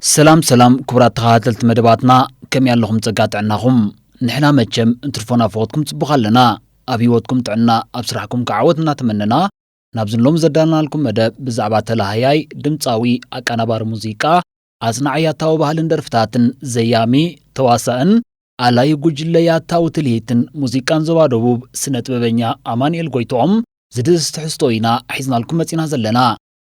ሰላም ሰላም ክቡራት ተኻታተልቲ መደባትና ከምይ ኣለኹም ጸጋ ጥዕናኹም ንሕና መቸም እንትርፎ ናብ ፈወትኩም ጽቡቕ ኣለና ኣብ ሂወትኩም ጥዕና ኣብ ስራሕኩም ከኣ ዓወት እናተመነና ናብዚ ሎሚ ዘዳለናልኩም መደብ ብዛዕባ ተላሃያይ ድምጻዊ ኣቃናባሪ ሙዚቃ ኣጽናዒ ያታዊ ባህልን ደርፍታትን ዘያሚ ተዋሳእን ኣላዩ ጉጅለ ያታዊ ትልሂትን ሙዚቃን ዞባ ደቡብ ስነ ጥበበኛ ኣማንኤል ጎይትኦም ዝድህስስ ትሕዝቶ ኢና ሒዝናልኩም መጺና ዘለና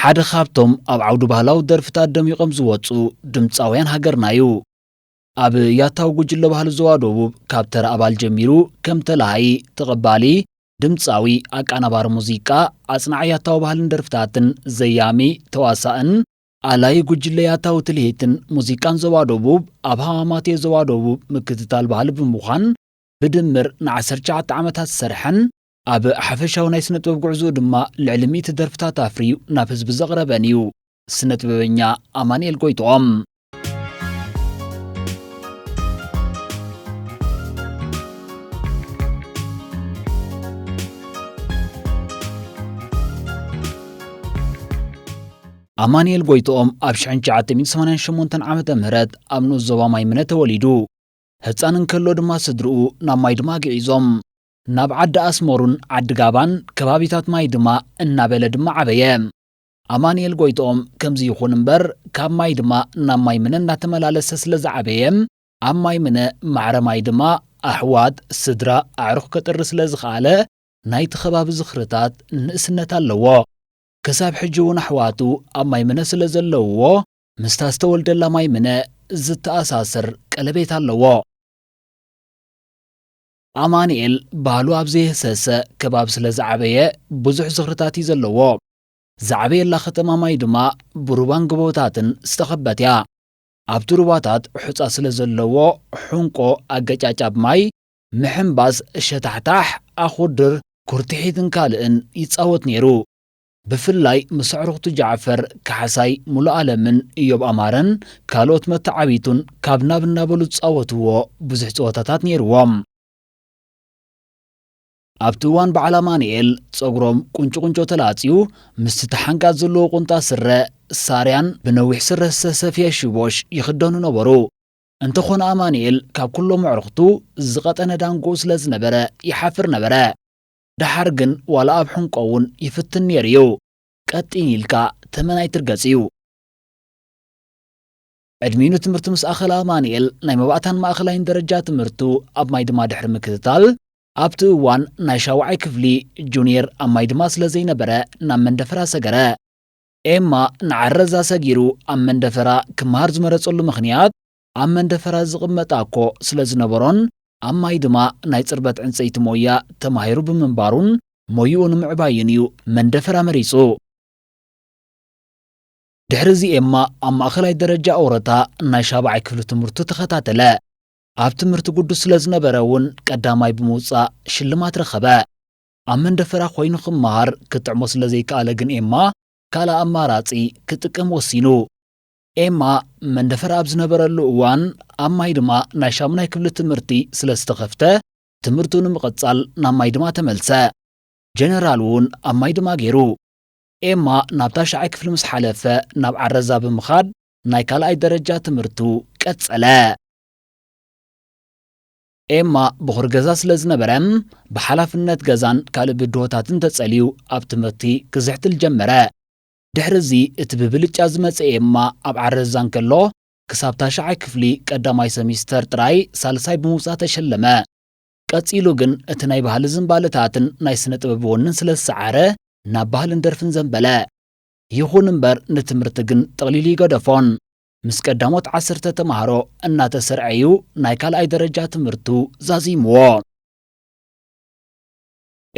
ሓደ ካብቶም ኣብ ዓውዲ ባህላዊ ደርፍታት ደሚቖም ዝወጹ ድምጻውያን ሃገርና እዩ። ኣብ ያታዊ ጉጅለ ባህሊ ዞባ ደቡብ ካብ ተራ ኣባል ጀሚሩ ከም ተላሃዪ፣ ተቐባሊ፣ ድምጻዊ፣ ኣቃናባሪ ሙዚቃ፣ ኣጽናዒ ያታዊ ባህልን ደርፍታትን፣ ዘያሚ፣ ተዋሳእን፣ ኣላዪ ጉጅለ ያታዊ ትልሂትን ሙዚቃን ዞባ ደቡብ ኣብ ሃማማቴ ዞባ ደቡብ ምክትታል ባህሊ ብምዃን ብድምር ንዓሰርተ ትሽዓተ ዓመታት ዝሰርሐን ኣብ ሓፈሻዊ ናይ ስነጥበብ ጉዕዝኡ ድማ ልዕሊ ሚእቲ ደርፍታት ኣፍርዩ ናብ ህዝቢ ዘቕረበን እዩ ስነጥበበኛ ኣማንኤል ጎይትኦም። ኣማንኤል ጎይትኦም ኣብ 1988 ዓ ም ኣብ ንኡስ ዞባ ማይምነ ተወሊዱ ህፃን እንከሎ ድማ ስድርኡ ናብ ማይድማ ግዒዞም ናብ ዓዲ ኣስመሩን ዓዲ ጋባን ከባቢታት ማይ ድማ እናበለ ድማ ዓበየ። ኣማኒኤል ጎይትኦም ከምዚ ይኹን እምበር ካብ ማይ ድማ ናብ ማይ ምነ እናተመላለሰ ስለ ዝዓበየ ኣብ ማይ ምነ ማዕረ ማይ ድማ ኣሕዋት፣ ስድራ፣ ኣዕሩኽ ከጥሪ ስለ ዝኸኣለ ናይቲ ከባቢ ዝኽርታት ንእስነት ኣለዎ። ክሳብ ሕጂ እውን ኣሕዋቱ ኣብ ማይ ምነ ስለ ዘለውዎ ምስታ ዝተወልደላ ማይ ምነ ዝተኣሳስር ቀለቤት ኣለዎ። ኣማንኤል ባህሉ ኣብ ዘየህሰሰ ከባቢ ስለ ዝዓበየ ብዙሕ ዝኽርታት እዩ ዘለዎ። ዝዓበየላ ከተማ ማይ ድማ ብሩባን ጎቦታትን ዝተኸበት እያ። ኣብቲ ሩባታት ሑጻ ስለ ዘለዎ ሑንቆ፣ ኣገጫጫብ ማይ፣ ምሕንባስ፣ ሸታሕታሕ፣ ኣኹርድር፣ ኩርትሒትን ካልእን ይጻወት ነይሩ። ብፍላይ ምስ ኣዕሩኽቱ ጃዕፈር ካሕሳይ፣ ሙሉኣለምን እዮብ ኣማረን ካልኦት መተዓብይቱን ካብ ናብ እናበሉ ዝጻወትዎ ብዙሕ ጸወታታት ነይርዎም። ኣብቲ እዋን በዓል ኣማኑኤል ጸጉሮም ቁንጩ ቁንጮ ተላጽዩ ምስቲ ተሓንጋጥ ዘለዎ ቁንጣ ስረ፣ ሳርያን፣ ብነዊሕ ስረ ዝተሰፍየ ሽቦሽ ይኽደኑ ነበሩ። እንተኾነ ኣማኑኤል ካብ ኩሎም ኣዕሩኽቱ ዝቐጠነ ዳንግኡ ስለዝነበረ ይሓፍር ነበረ። ደሓር ግን ዋላ ኣብ ሕንቆ እውን ይፍትን ነይሩ እዩ። ቀጢን ኢልካ ተመን ኣይትርገጽ እዩ። ዕድሚኡ ንትምህርቲ ምስ ኣኸለ ኣማንኤል ናይ መባእታን ማእኸላይን ደረጃ ትምህርቱ ኣብ ማይ ድማ ድሕሪ ምክትታል ኣብቲ እዋን ናይ ሻውዓይ ክፍሊ ጁንየር ኣብ ማይ ድማ ስለ ዘይነበረ ናብ መንደፈራ ሰገረ። ኤማ ንዓረዛ ሰጊሩ ኣብ መንደፈራ ክመሃር ዝመረጸሉ ምኽንያት ኣብ መንደፈራ ዝቕመጥ ኣኮ ስለ ዝነበሮን ኣብ ማይ ድማ ናይ ጽርበት ዕንጸይቲ ሞያ ተማሂሩ ብምንባሩን ሞይኡ ንምዕባይን እዩ መንደፈራ መሪጹ። ድሕሪ እዚ ኤማ ኣብ ማእኸላይ ደረጃ ኦረታ ናይ ሻብዓይ ክፍሊ ትምህርቱ ተኸታተለ። ኣብ ትምህርቲ ግዱስ ስለ ዝነበረ እውን ቀዳማይ ብምውጻእ ሽልማት ረኸበ። ኣብ መንደፈራ ኮይኑ ክመሃር ክጥዕሞ ስለ ዘይከኣለ ግን ኤማ ካልእ ኣማራጺ ክጥቀም ወሲኑ። ኤማ መንደፈራ ኣብ ዝነበረሉ እዋን ኣብ ማይድማ ናይ ሻሙናይ ክፍሊ ትምህርቲ ስለ ዝተኸፍተ ትምህርቱ ንምቕጻል ናብ ማይድማ ተመልሰ። ጀነራል እውን ኣብ ማይድማ ገይሩ። ኤማ ናብ ታሽዓይ ክፍሊ ምስ ሓለፈ ናብ ዓረዛ ብምኻድ ናይ ካልኣይ ደረጃ ትምህርቱ ቀጸለ። ኤማ ብኹር ገዛ ስለ ዝነበረ ብሓላፍነት ገዛን ካልእ ብድሆታትን ተጸልዩ ኣብ ትምህርቲ ክዝሕትል ጀመረ። ድሕሪ እዚ እቲ ብብልጫ ዝመጸ ኤማ ኣብ ዓረዛ እንከሎ ክሳብ ታሽዓይ ክፍሊ ቀዳማይ ሰሚስተር ጥራይ ሳልሳይ ብምውጻእ ተሸለመ። ቀጺሉ ግን እቲ ናይ ባህሊ ዝንባለታትን ናይ ስነ ጥበብ ወንን ስለ ዝሰዓረ ናብ ባህልን ደርፍን ዘንበለ። ይኹን እምበር ንትምህርቲ ግን ጥቕሊል እይገደፎን። ምስ ቀዳሞት ዓሰርተ ተማሃሮ እናተሰርዐ እዩ ናይ ካልኣይ ደረጃ ትምህርቱ ዛዚምዎ።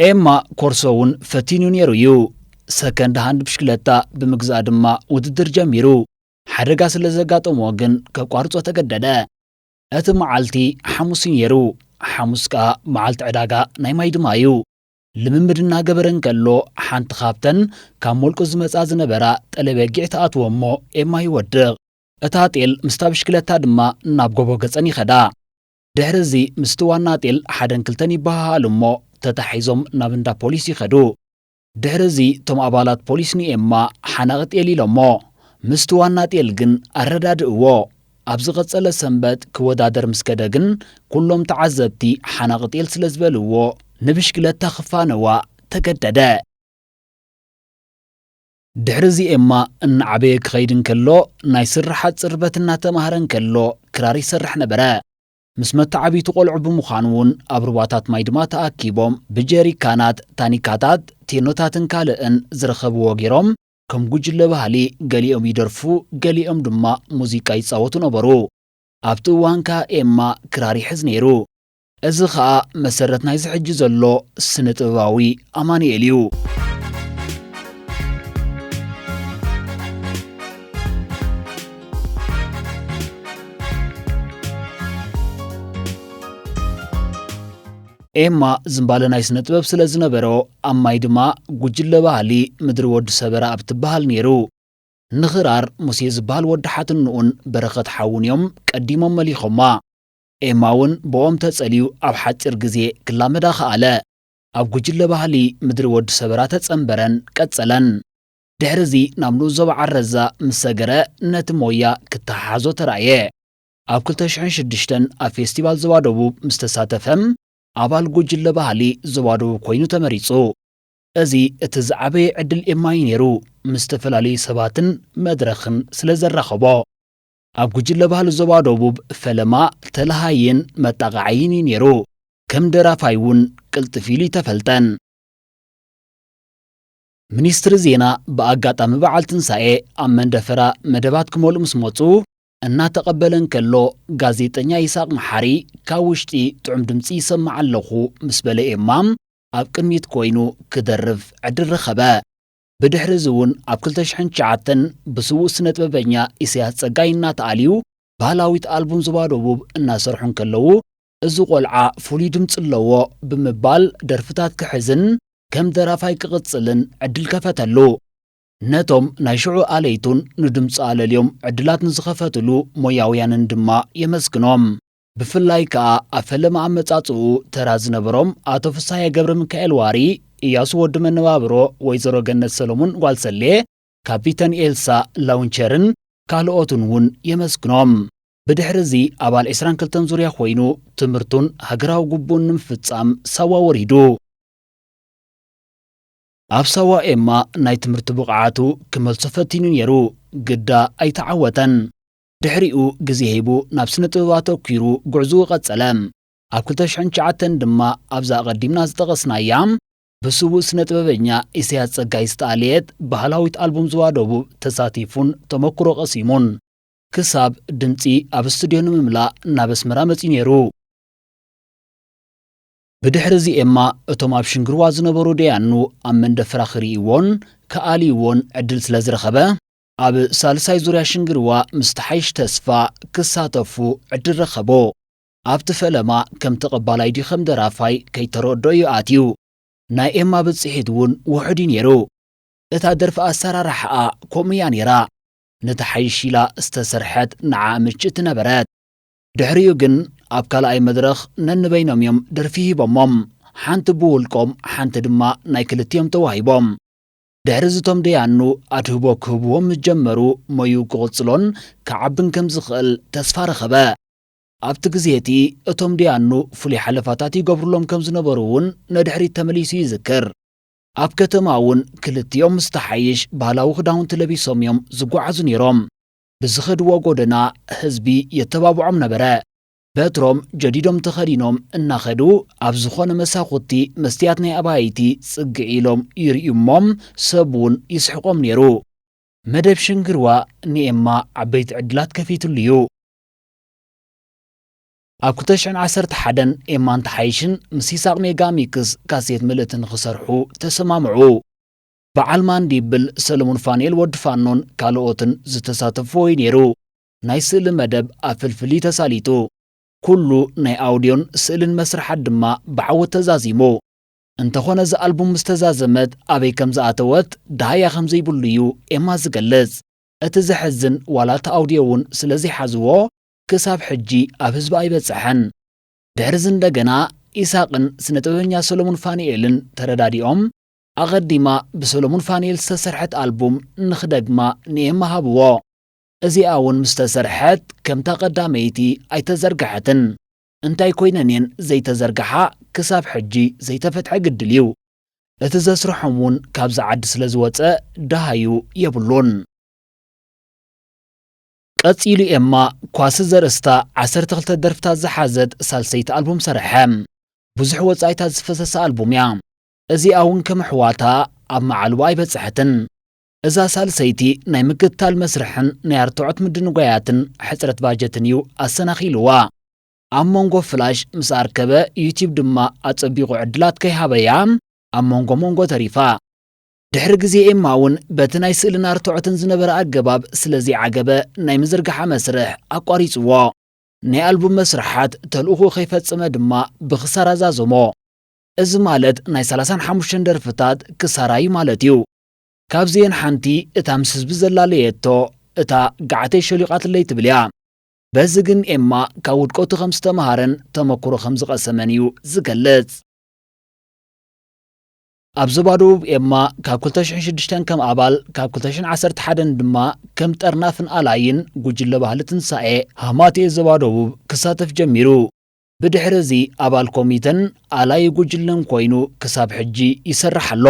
ኤማ ኮርሶ እውን ፈቲኑ ነይሩ እዩ። ሰከንድ ሃንድ ብሽክለታ ብምግዛእ ድማ ውድድር ጀሚሩ። ሓደጋ ስለ ዘጋጠሞ ግን ከቋርጾ ተገደደ። እቲ መዓልቲ ሓሙስ እዩ ነይሩ። ሓሙስ ከኣ መዓልቲ ዕዳጋ ናይ ማይድማ እዩ። ልምምድ እናገበረ እንከሎ ሓንቲ ካብተን ካብ ሞልቁ ዝመጻ ዝነበራ ጠለ በጊዕ ትኣትዎ እሞ ኤማ ይወድቕ። እታ ጤል ምስታ ብሽክለታ ድማ ናብ ጎቦ ገጸን ይኸዳ። ድሕሪ እዚ ምስቲ ዋና ጤል ሓደን ክልተን ይበሃሃሉ እሞ ተታሒዞም ናብ እንዳ ፖሊስ ይኸዱ። ድሕሪ እዚ እቶም ኣባላት ፖሊስ ንኤማ ሓናቒ ጤል ኢሎሞ። ምስቲ ዋና ጤል ግን ኣረዳድእዎ። ኣብ ዝቐጸለ ሰንበት ክወዳደር ምስ ከደ ግን ኩሎም ተዓዘብቲ ሓናቒ ጤል ስለ ዝበልዎ ንብሽክለታ ክፋነዋ ተገደደ። ድሕርዚ ኤማ እናዓበየ ክኸይድ እንከሎ፣ ናይ ስርሓት ጽርበት እናተማህረ እንከሎ ክራር ይሰርሕ ነበረ። ምስ መተዓብይቱ ቆልዑ ብምዃን'ውን ኣብ ሩባታት ማይ ድማ ተኣኪቦም ብጀሪካናት፣ ታኒካታት፣ ቴኖታትን ካልእን ዝረኸብዎ ገይሮም ከም ጉጅለ ባህሊ ገሊኦም ይደርፉ ገሊኦም ድማ ሙዚቃ ይጻወቱ ነበሩ። ኣብቲ እዋን ከኣ ኤማ ክራር ይሕዝ ነይሩ። እዚ ኸኣ መሰረት ናይዚ ሕጂ ዘሎ ስነ ጥበባዊ ኣማኑኤል እዩ። ኤማ ዝምባለ ናይ ስነ ጥበብ ስለ ዝነበሮ ኣብ ማይ ድማ ጉጅለ ባህሊ ምድሪ ወዲ ሰበራ ኣብ ትበሃል ነይሩ። ንኽራር ሙሴ ዝበሃል ወዲ ሓትንኡን በረኸት ሓዉን እዮም ቀዲሞም መሊኾማ። ኤማ'ውን ብኦም ተጸልዩ ኣብ ሓጺር ግዜ ክላመዳ ከኣለ። ኣብ ጉጅለ ባህሊ ምድሪ ወዲ ሰበራ ተጸንበረን ቀጸለን። ድሕሪ'ዚ ናብ ንኡስ ዞባ ዓረዛ ምስ ሰገረ ነቲ ሞያ ክተሓሓዞ ተራእየ። ኣብ ክልተ ሽሕን ሽዱሽተን ኣብ ፌስቲቫል ዞባ ደቡብ ምስ ተሳተፈ ኣባል ጉጅለ ባህሊ ዞባ ደቡብ ኮይኑ ተመሪጹ። እዚ እቲ ዝዓበየ ዕድል ኤማ'ዩ ነይሩ፣ ምስ ዝተፈላለዩ ሰባትን መድረኽን ስለ ዘራኸቦ። ኣብ ጉጅለ ባህሊ ዞባ ደቡብ ፈለማ ተለሃይን መጣቓዓይን እዩ ነይሩ። ከም ደራፋይ እውን ቅልጥፍ ኢሉ እይተፈልጠን። ሚኒስትሪ ዜና ብኣጋጣሚ በዓል ትንሳኤ ኣብ መንደፈራ መደባት ክመልኡ ምስ መፁ እናተቐበለ እንከሎ ጋዜጠኛ ይስሃቕ መሓሪ ካብ ውሽጢ ጥዑም ድምፂ ይሰምዕ ኣለኹ ምስ በለ ኤማ ኣብ ቅድሚት ኮይኑ ክደርፍ ዕድል ረኸበ። ብድሕሪ'ዚ እውን ኣብ ክልተ ሽሕን ትሽዓተን ብስዉእ ስነጥበበኛ ኢሰያስ ጸጋይ እናተኣልዩ ባህላዊት ኣልቡም ዞባ ደቡብ እናሰርሑ እንከለዉ እዚ ቆልዓ ፍሉይ ድምጺ ኣለዎ ብምባል ደርፍታት ክሕዝን ከም ደራፋይ ክቕጽልን ዕድል ከፈተሉ። ነቶም ናይ ሽዑ ኣለይቱን ንድምጹ ኣለልዮም ዕድላት ንዝኸፈትሉ ሞያውያንን ድማ የመስግኖም። ብፍላይ ከኣ ኣብ ፈለማ ኣመጻጽኡ ተራ ዝነበሮም ኣቶ ፍስሃየ ገብረሚካኤል ዋሪ፣ ኢያሱ ወዲ መነባብሮ፣ ወይዘሮ ገነት ሰለሙን ጓል ሰሌ፣ ካፒተን ኤልሳ ላውንቸርን ካልኦትን እውን የመስግኖም። ብድሕሪ እዚ ኣባል ዕስራን ክልተን ዙርያ ኮይኑ ትምህርቱን ሃገራዊ ግቡኡን ንምፍጻም ሳዋ ወሪዱ። ኣብ ሳዋ ኤማ ናይ ትምህርቲ ብቕዓቱ ክመልሶ ፈቲኑ ነይሩ፣ ግዳ ኣይተዓወተን። ድሕሪኡ ግዜ ሂቡ ናብ ስነ-ጥበብ ኣተኲሩ ጉዕዝኡ ቀጸለ። ኣብ ክልተ ሽሕን ትሽዓተን ድማ ኣብዛ ኣቐዲምና ዝጠቐስናያ ብስዉእ ስነ-ጥበበኛ ኢሰያስ ጸጋይ ዝተኣልየት ባህላዊት ኣልቡም ዞባ ደቡብ ተሳቲፉን ተመኩሮ ቀሲሙን ክሳብ ድምጺ ኣብ ስቱድዮ ንምምላእ ናብ ኣስመራ መጺኡ ነይሩ። ብድሕርዚ ኤማ እቶም ኣብ ሽንግርዋ ዝነበሩ ደያኑ ኣብ መንደፈራ ክርእይዎን ክኣልይዎን ዕድል ስለ ዝረኸበ፣ ኣብ ሳልሳይ ዙርያ ሽንግርዋ ምስ ተሓይሽ ተስፋ ክሳተፉ ዕድል ረኸቡ። ኣብቲ ፈለማ ከም ተቐባላይ ድዩ ከም ደራፋይ ከይተረድኦ እዩ ኣትዩ። ናይ ኤማ ብጽሒት እውን ውሑድ እዩ ነይሩ። እታ ደርፊ ኣሰራርሓኣ ከምኡ እያ ነይራ፣ ንተሓይሽ ኢላ ዝተሰርሐት ንዓኣ ምችእቲ ነበረት። ድሕሪኡ ግን ኣብ ካልኣይ መድረኽ ነንበይኖም እዮም ደርፊ ሂቦሞም፣ ሓንቲ ብውልቆም ሓንቲ ድማ ናይ ክልቲኦም ተዋሂቦም። ድሕሪዚ እቶም ደያኑ ኣድህቦ ክህብዎ ምስ ጀመሩ ሞይኡ ክቕጽሎን ክዓብን ከም ዝኽእል ተስፋ ረኸበ። ኣብቲ ግዜ እቲ እቶም ደያኑ ፍሉይ ሓለፋታት ይገብሩሎም ከም ዝነበሩ እውን ንድሕሪት ተመሊሱ ይዝክር። ኣብ ከተማ እውን ክልቲኦም ምስቲ ሓይሽ ባህላዊ ክዳውንቲ ለቢሶም እዮም ዝጓዓዙ ነይሮም። ብዝኸድዎ ጎደና ህዝቢ የተባብዖም ነበረ። በትሮም ጀዲዶም ተኸዲኖም እናኸዱ ኣብ ዝኾነ መሳኹቲ መስትያት ናይ ኣባይቲ ጽግዒ ኢሎም ይርእዩ እሞ ሰብ እውን ይስሕቖም ነይሩ። መደብ ሽንግርዋ ንኤማ ዓበይቲ ዕድላት ከፊትሉ እዩ። ኣብ ክልተ ሽሕን ዓሰርተ ሓደን ኤማን ተሓይሽን ምስ ይሳቕ ሜጋ ሚክስ ካሴት ምልእቲ ንኽሰርሑ ተሰማምዑ። በዓል ማንዲብል፣ ሰለሙን ፋኑኤል ወዲ ፋኖን ካልኦትን ዝተሳተፍዎ እዩ ነይሩ። ናይ ስእሊ መደብ ኣብ ፍልፍሊ ተሳሊጡ። ኩሉ ናይ ኣውድዮን ስእልን መስርሓት ድማ ብዓወት ተዛዚሙ። እንተኾነ እዛ ኣልቡም ምስ ተዛዘመት ኣበይ ከም ዝኣተወት ደሃያ ከም ዘይብሉ እዩ ኤማ ዝገልጽ። እቲ ዘሕዝን ዋላ እቲ ኣውድዮ እውን ስለ ዘይሓዝዎ ክሳብ ሕጂ ኣብ ህዝቢ ኣይበጸሐን። ድሕርዚ እንደገና ኢሳቕን ስነ ጥበበኛ ሰለሙን ፋኑኤልን ተረዳዲኦም ኣቐዲማ ብሰለሙን ፋኑኤል ዝተሰርሐት ኣልቡም ንኽደግማ ንኤማ ሃብዎ። እዚኣ ውን ምስ ተሰርሐት ከምታ ቀዳመይቲ ኣይተዘርገሐትን እንታይ ኮይነን እየን ዘይተዘርገሓ ክሳብ ሕጂ ዘይተፈትሐ ግድል እዩ እቲ ዘስርሖም ውን ካብዚ ዓዲ ስለ ዝወጸ ደሃዩ የብሉን። ቀጺሉ ኤማ ኳሲ ዘርእስታ ዓሰርተ ክልተ ደርፍታት ዝሓዘት ሳልሰይቲ ኣልቡም ሰረሐ። ብዙሕ ወጻኢታት ዝፈሰሳ ኣልቡም እያ። እዚኣ ውን ከም ኣሕዋታ ኣብ መዓልቦ ኣይበጸሐትን። እዛ ሳልሰይቲ ናይ ምክትታል መስርሕን ናይ ኣርትዖት ምድንጓያትን ሕጽረት ባጀትን እዩ ኣሰናኺሉዋ። ኣብ መንጎ ፍላሽ ምስ ኣርከበ ዩትዩብ ድማ ኣጸቢቑ ዕድላት ከይሃበያ ኣብ መንጎ መንጎ ተሪፋ። ድሕሪ ግዜ ኤማ እውን በቲ ናይ ስእልን ኣርትዖትን ዝነበረ ኣገባብ ስለ ዘይዓገበ ናይ ምዝርግሓ መስርሕ ኣቋሪጽዎ። ናይ ኣልቡም መስርሓት ተልእኹኡ ከይፈጸመ ድማ ብክሳራ ዛዘሞ። እዚ ማለት ናይ ሰላሳን ሓሙሽተን ደርፍታት ክሳራ እዩ ማለት እዩ። ካብዚኤን ሓንቲ እታ ምስ ህዝቢ ዘላለየቶ እታ ገዓተይ ሸሊቓትለይ ትብል እያ። በዚ ግን ኤማ ካብ ውድቀቱ ከም ዝተመሃረን ተመኩሮ ከም ዝቐሰመን እዩ ዝገልጽ። ኣብ ዞባ ደቡብ ኤማ ካብ ክልተ ሽሕን ሽዱሽተን ከም ኣባል ካብ ክልተ ሽሕን ዓሰርተ ሓደን ድማ ከም ጠርናፍን ኣላዪን ጉጅለ ባህሊ ትንሳኤ ሃማትኤ ዞባ ደቡብ ክሳተፍ ጀሚሩ። ብድሕሪ እዚ ኣባል ኮሚተን ኣላዪ ጉጅለን ኮይኑ ክሳብ ሕጂ ይሰርሕ ኣሎ።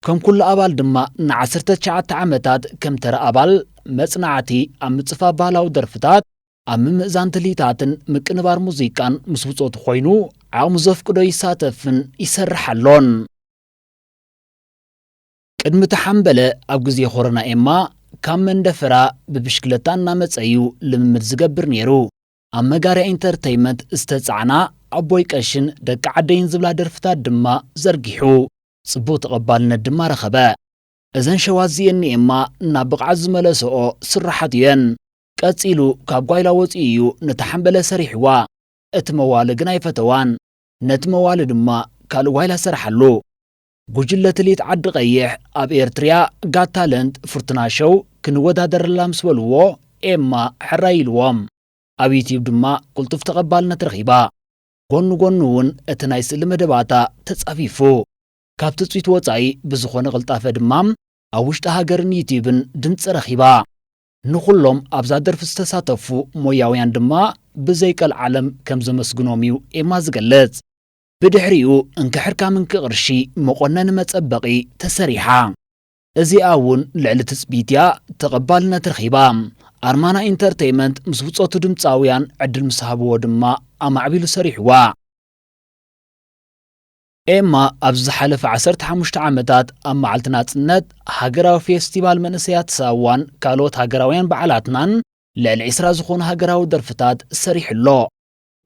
ከም ኩሉ ኣባል ድማ ንዓሰርተ ትሽዓተ ዓመታት ከም ተራ ኣባል መጽናዕቲ ኣብ ምጽፋፍ ባህላዊ ደርፍታት፣ ኣብ ምምእዛን ትልሂታትን ምቅንባር ሙዚቃን ምስ ብጾቱ ኮይኑ ዓቕሙ ዘፍቅዶ ይሳተፍን ይሰርሕ ኣሎን። ቅድሚ እቲ ሓምበለ ኣብ ግዜ ኮሮና ኤማ ካብ መንደፈራ ብብሽክለታ እናመጸ እዩ ልምምድ ዝገብር ነይሩ። ኣብ መጋርያ ኢንተርተይመንት ዝተጻዕና ኣቦይ ቀሺን ደቂ ዓደይን ዝብላ ደርፍታት ድማ ዘርጊሑ ጽቡቕ ተቐባልነት ድማ ረኸበ። እዘን ሸዋት እዚኤን ንኤማ ናብ ብቕዓት ዝመለሰኦ ስርሓት እየን። ቀጺሉ ካብ ጓይላ ወጺኡ እዩ ነታ ሓምበለ ሰሪሕዋ። እቲ መዋሊ ግን ኣይፈተዋን። ነቲ መዋሊ ድማ ካልእ ጓይላ ሰረሓሉ። ጉጅለ ትልሂት ዓዲ ቐይሕ ኣብ ኤርትርያ ጋት ታለንት ፍርቱና ሸው ክንወዳደረላ ምስ በልዎ ኤማ ሕራይ ኢልዎም። ኣብ ዩትዩብ ድማ ቅልጡፍ ተቐባልነት ረኺባ። ጎኑ ጎኑ እውን እቲ ናይ ስእሊ መደባታ ተጻፊፉ። ካብ ትጽቢት ወጻኢ ብዝኾነ ቅልጣፈ ድማ ኣብ ውሽጢ ሃገርን ዩትዩብን ድምጺ ረኺባ። ንኹሎም ኣብዛ ደርፊ ዝተሳተፉ ሞያውያን ድማ ብዘይ ቀልዓለም ከም ዘመስግኖም እዩ ኤማ ዝገልጽ። ብድሕሪኡ እንክሕርካ ምንኪ ቅርሺ መቆነኒ መጸበቒ ተሰሪሓ። እዚኣ እውን ልዕሊ ትጽቢት እያ ተቐባልነት ረኺባ። ኣርማና ኢንተርተይመንት ምስ ብጾቱ ድምጻውያን ዕድል ምስ ሃብዎ ድማ ኣማዕቢሉ ሰሪሑዋ። ኤማ ኣብዚ ዝሓለፈ ዓሰርተ ሓሙሽተ ዓመታት ኣብ መዓልቲ ናጽነት፣ ሃገራዊ ፌስቲቫል መንእሰያት ሳዋን ካልኦት ሃገራውያን በዓላትናን ልዕሊ ዕስራ ዝኾኑ ሃገራዊ ደርፍታት ሰሪሑ ኣሎ።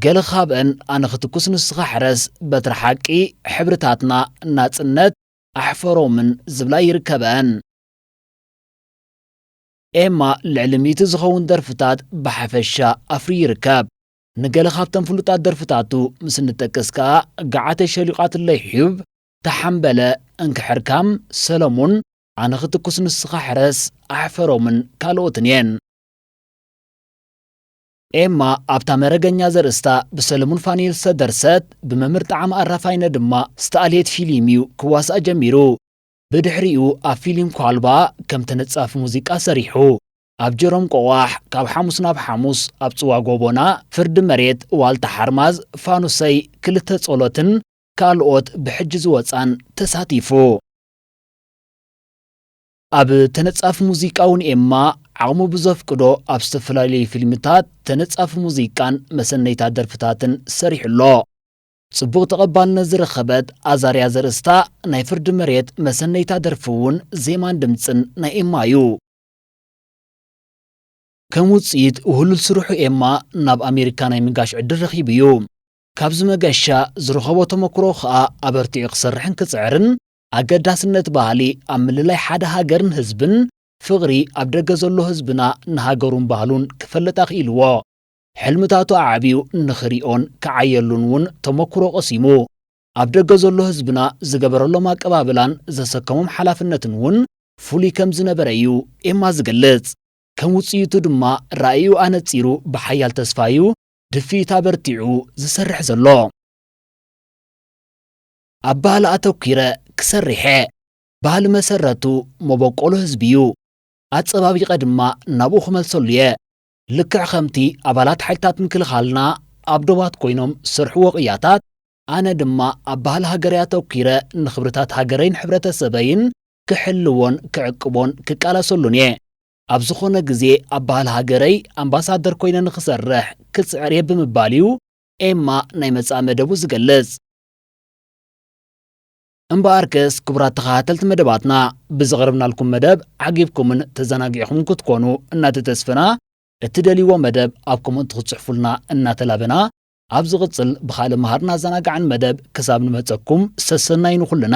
ገለ ካብእን ኣነ ክትኩስ ንስኻ ሕረስ፣ በትሪ ሓቂ፣ ሕብርታትና፣ ናጽነት፣ ኣሕፈሮምን ዝብላ ይርከበኣን። ኤማ ልዕሊ ሚእቲ ዝኸውን ደርፍታት ብሓፈሻ ኣፍርዩ ይርከብ። ንገለ ካብተን ፍሉጣት ደርፍታቱ ምስ እንጠቅስ ከኣ ገዓተይ ሸሊቓትለይ ሒዩብ፣ ተሓምበለ፣ እንክሕርካም፣ ሰለሙን፣ ኣነ ክትኩስ ንስኻ ሕረስ፣ ኣሕፈሮምን ካልኦትን እየን። ኤማ ኣብታ መረገኛ ዘርእስታ ብሰለሙን ፋኑኤል ዝተደርሰት ብመምህር ጠዓመ ኣራፋይነ ድማ ዝተኣልየት ፊሊም እዩ ክዋሳእ ጀሚሩ። ብድሕሪኡ ኣብ ፊሊም ኳልባ ከም ተነጻፊ ሙዚቃ ሰሪሑ። ኣብ ጀሮም ቆቛሕ፣ ካብ ሓሙስ ናብ ሓሙስ፣ ኣብ ጽዋ ጎቦና፣ ፍርዲ መሬት፣ ዋልታ ሓርማዝ፣ ፋኑሰይ፣ ክልተ ጸሎትን ካልኦት ብሕጂ ዝወጻን ተሳቲፉ። ኣብ ተነጻፊ ሙዚቃ'ውን ኤማ ዓቕሙ ብዘፍቅዶ ኣብ ዝተፈላለዩ ፊልምታት ተነጻፊ ሙዚቃን መሰነይታ ደርፍታትን ሰሪሑ ኣሎ። ጽቡቕ ተቐባልነት ዝረኸበት ኣዛርያ ዘርእስታ ናይ ፍርዲ መሬት መሰነይታ ደርፊ'ውን ዜማን ድምጽን ናይ ኤማ'ዩ። ከም ውጽኢት ውህሉል ስርሑ ኤማ ናብ ኣሜሪካ ናይ ምጋሽ ዕድል ረኺቡ'ዩ። ካብዚ መገሻ ዝረኸቦ ተመኩሮ ከኣ ኣበርቲዑ ክሰርሕን ክጽዕርን ኣገዳስነት ባህሊ ኣብ ምልላይ ሓደ ሃገርን ህዝብን፣ ፍቕሪ ኣብ ደገ ዘሎ ህዝብና ንሃገሩን ባህሉን ክፈልጥ ኣኽኢልዎ። ሕልምታቱ ኣዕብዩ ንኽሪኦን ክዓየሉን ውን ተሞኩሮ ቀሲሙ። ኣብ ደገ ዘሎ ህዝብና ዝገበረሎም ኣቀባብላን ዘሰከሞም ሓላፍነትን ውን ፍሉይ ከም ዝነበረ ዩ ኤማ ዝገልጽ። ከም ውጽኢቱ ድማ ራኢኡ ኣነጺሩ ብሓያል ተስፋ ዩ ድፍኢት ኣበርቲዑ ዝሰርሕ ዘሎ። ኣብ ባህሊ ኣተኲረ ክሰርሕ'የ። ባህሊ መሰረቱ መበቆሉ ህዝቢ'ዩ። ኣጸባቢቐ ድማ ናብኡ ክመልሰሉ'የ። ልክዕ ከምቲ ኣባላት ሓይልታት ምክልኻልና ኣብ ዶባት ኮይኖም ዝሰርሕዎ ቅያታት፣ ኣነ ድማ ኣብ ባህሊ ሃገረይ ኣተኲረ ንኽብርታት ሃገረይን ሕብረተሰበይን ክሕልዎን ክዕቅቦን ክቃለሰሉን'የ። ኣብ ዝኾነ ግዜ ኣብ ባህሊ ሃገረይ ኣምባሳደር ኮይነ ንኽሰርሕ ክጽዕር'የ ብምባል'ዩ ኤማ ናይ መጻኢ መደቡ ዝገልጽ። እምበኣርከስ ክቡራት ተኸታተልቲ መደባትና ብዘቕረብናልኩም መደብ ዓጊብኩምን ተዘናጊዕኹም ክትኮኑ እናተተስፈና እትደልይዎ መደብ ኣብ ኮመንት ክትጽሕፉልና እናተላበና ኣብ ዝቕጽል ብኻልእ መሃርን ኣዘናጋዕን መደብ ክሳብ ንመጸኩም ሰሰናዩ ንኹልና።